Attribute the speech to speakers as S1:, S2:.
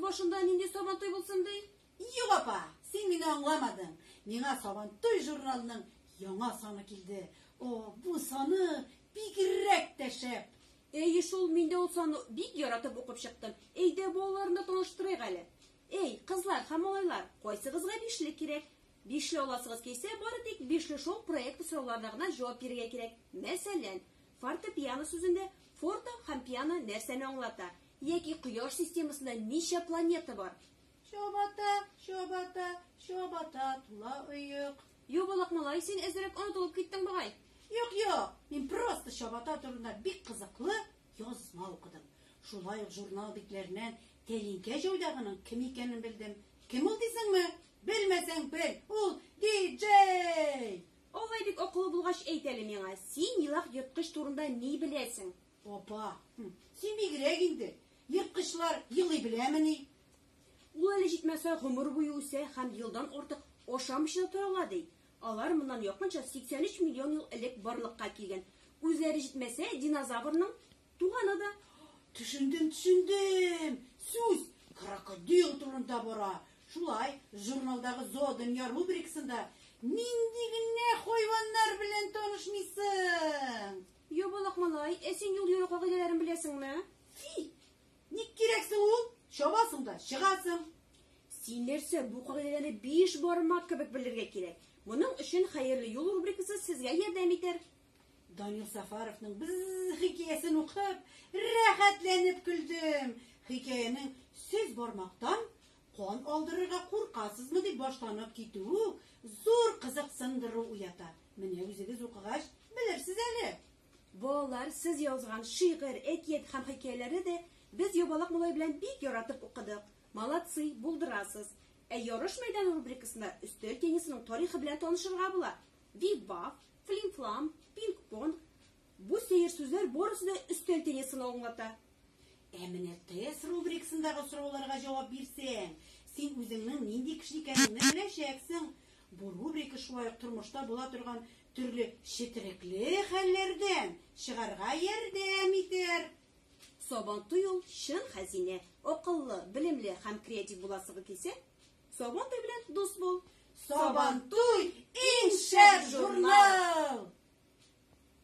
S1: башында нинди сабантуй булсын ди? Юк, апа,
S2: син мине аңламадың. Миңа сабантуй журналының яңа саны килде. О, бу саны бигрәк тә шәп. Әй, шул
S1: мин дә ул саны бик яратып укып чыктым. Әйдә, балаларны таныштырыйк әле. Әй, кызлар һәм малайлар, кайсыгызга бишле кирәк? Бишле аласыгыз килсә, бары тик Бишле шоу проекты сорауларына гына җавап бирергә кирәк. Мәсәлән, фортепиано сүзендә форте һәм пиано нәрсәне аңлата? Яки Кояш системасында ничә планета бар? Чабата,
S2: чабата, чабата тула оек. Ябалак малай,
S1: син әзрәк онытылып киттең бугай. Юк, юк,
S2: мин просто чабата турында бик кызыклы Язма укыдым. Шулай ук журнал битләреннән тәлинкә җайдагының кем икәнен белдем. Кем ул дисеңме? Белмәсәң бел, ул диджей! Алай бик
S1: акыллы булгач әйт әле миңа, син елак ерткыч турында ни беләсең? Апа,
S2: син бигрәк инде. Ерткычлар елый беләмени? Ул әле
S1: җитмәсә гомер буе үсә һәм елдан артык ашамыйча да тора ала ди. Алар моннан якынча 83 миллион ел элек барлыкка килгән. Үзләре җитмәсә, динозаврның туганы да. Төшендем,
S2: төшендем! Сүз крокодил турында бара. Шулай, журналдагы Зоодөнья рубрикасында нинди генә хайваннар белән танышмыйсың? Ябалак
S1: малай, ә син юл йөрү кагыйдәләрен беләсеңме? Фи!
S2: Ник кирәксең ул? Чабасың да, чыгасың. Син
S1: нәрсә, бу кагыйдәне биш бармак кебек белергә кирәк. Моның өчен хәерле юл рубрикасы сезгә ярдәм итәр. Данил
S2: Сафаровның без хикәясен укып, рәхәтләнеп көлдем. Хикәянең сез бармактан кан алдырырга куркасызмы дип башланып китүе зур кызыксындыру уята. Менә үзегез укыгач, белерсез әле. Балалар,
S1: сез язган шигырь, әкият һәм хикәяләрне дә без Ябалак малай белән бик яратып укыдык. Молодцы, булдырасыз. Ә ярыш мәйданы рубрикасында өстәл теннисының тарихы белән танышырга була. Биф-баф, флим-флам, пинг-понг. Бу сәер сүзләр барысы да өстәл теннисын аңлата. Ә менә
S2: тест рубрикасындагы сорауларга җавап бирсәң, син үзеңнең нинди кеше икәнеңне беләчәксең. Бу рубрика шулай ук тормышта була торган Төрле четерекле хәлләрдән чыгарга ярдәм итәр. Сабантуй
S1: ул чын хәзинә. Акыллы, белемле һәм креатив буласыгы килсә, Сабантуй белән дус
S2: бул.
S1: Сабантуй иң
S2: шәп
S1: журнал!